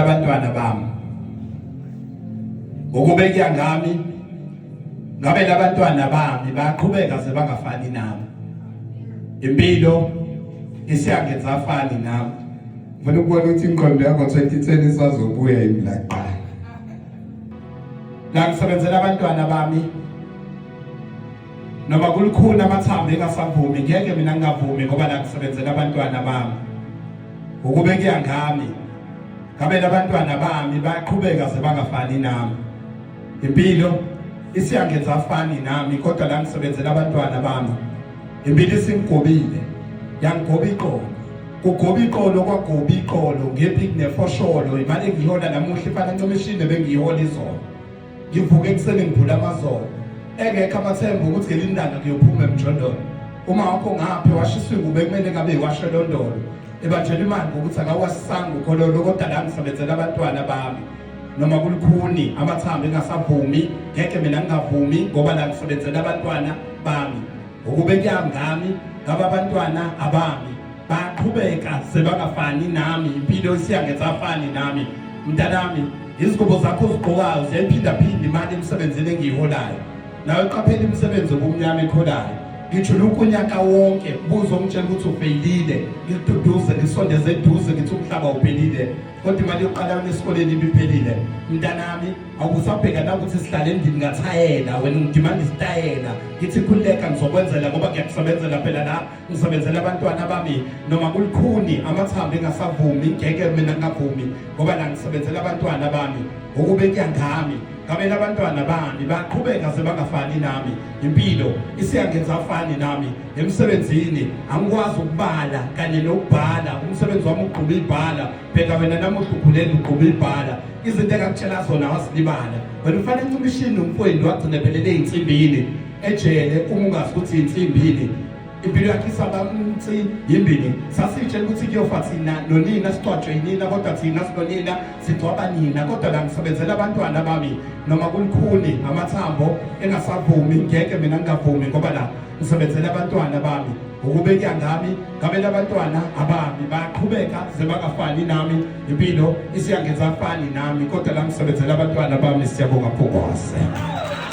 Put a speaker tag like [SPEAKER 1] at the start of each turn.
[SPEAKER 1] abantwana bami ukubekya ngami ngabe labantwana bami baqhubeka sebangafani nami impilo isiyangenza afani nami ngifuna ukubona
[SPEAKER 2] ukuthi inqondo yakho 2010 isazobuya imlaqa
[SPEAKER 1] la ngisebenzela abantwana bami noma kulukhulu amathambo engasavumi ngeke mina ngingavumi ngoba la kusebenzela abantwana bami ukube kuyangami ngabe labantwana bami bayaqhubeka sebangafani nami impilo isiyangenza afani nami kodwa la ngisebenzela abantwana bami impilo isingigobile yangigoba iqolo kugoba iqolo kwagoba iqolo ngephi kunefosholo imali engiyihola namuhla ifana ncomishini bengiyihola izolo ngivuke ekuseni ngivule amazolo engekho amathemba ukuthi ngelinye ilanga ngiyophuma emjondolo uma wakho ngaphi washiswa ingubo ekumele ngabe iwashelondolo ebatshela imali ngokuthi akawasanga ukhololo kodwa la ngisebenzela abantwana bami noma kulukhuni amathambo engasavumi ngeke mina ngingavumi ngoba la ngisebenzela abantwana bami ukube kuyangami ngaba abantwana abami baqhubeka sebangafani nami impilo isiyangesafani nami mntanami izingubo zakho ozigqokayo ziyayiphindaphinda imali emsebenzini engiyiholayo nawe qaphela imisebenzi obumnyama ekholayo ngijula ukunyaka wonke buzo ngitshela ukuthi ufeyilile ngikududuze ngisondeze eduze ngithi umhlaba uphelile kodwa imali yokuqala esikoleni ibiphelile mntanami awusabheka nakuthi sihlale endlini ngathayela wena ngidimanda isitayela ngithi khululeka ngizokwenzela ngoba ngiyakusebenzela phela la ngisebenzela abantwana bami noma kulikhuni amathambo engasavumi ngeke mina ngingavumi ngoba la ngisebenzela abantwana bami ukube kuyangami ngabela abantwana bami baqhubeka sebangafani nami impilo isiyangenza afani nami emsebenzini angikwazi ukubala kanye nokubhala umsebenzi wami ugquma ibhala bheka wena namuhla ukhulele ugquba ibhala izinto engakutshela zona wasilibala wena ufana encimishini umfweni wagcina phelele ey'nsimbini ejele uma ungazi ukuthi yinsimbini impilo yakhe isabamthi yimbini sasitshela ukuthi kuyofa thina nonina sicwatshwe yinina kodwa thina sinonina sigcwaba nina kodwa la ngisebenzela abantwana bami noma kulikhuni amathambo engasavumi ngeke mina ngingavumi ngoba la ngisebenzela abantwana bami ukubeka ngami ngabe labantwana abami baqhubeka zebakafani nami impilo isiyangenza afani nami kodwa la ngisebenzela abantwana bami siyabonga phokwaze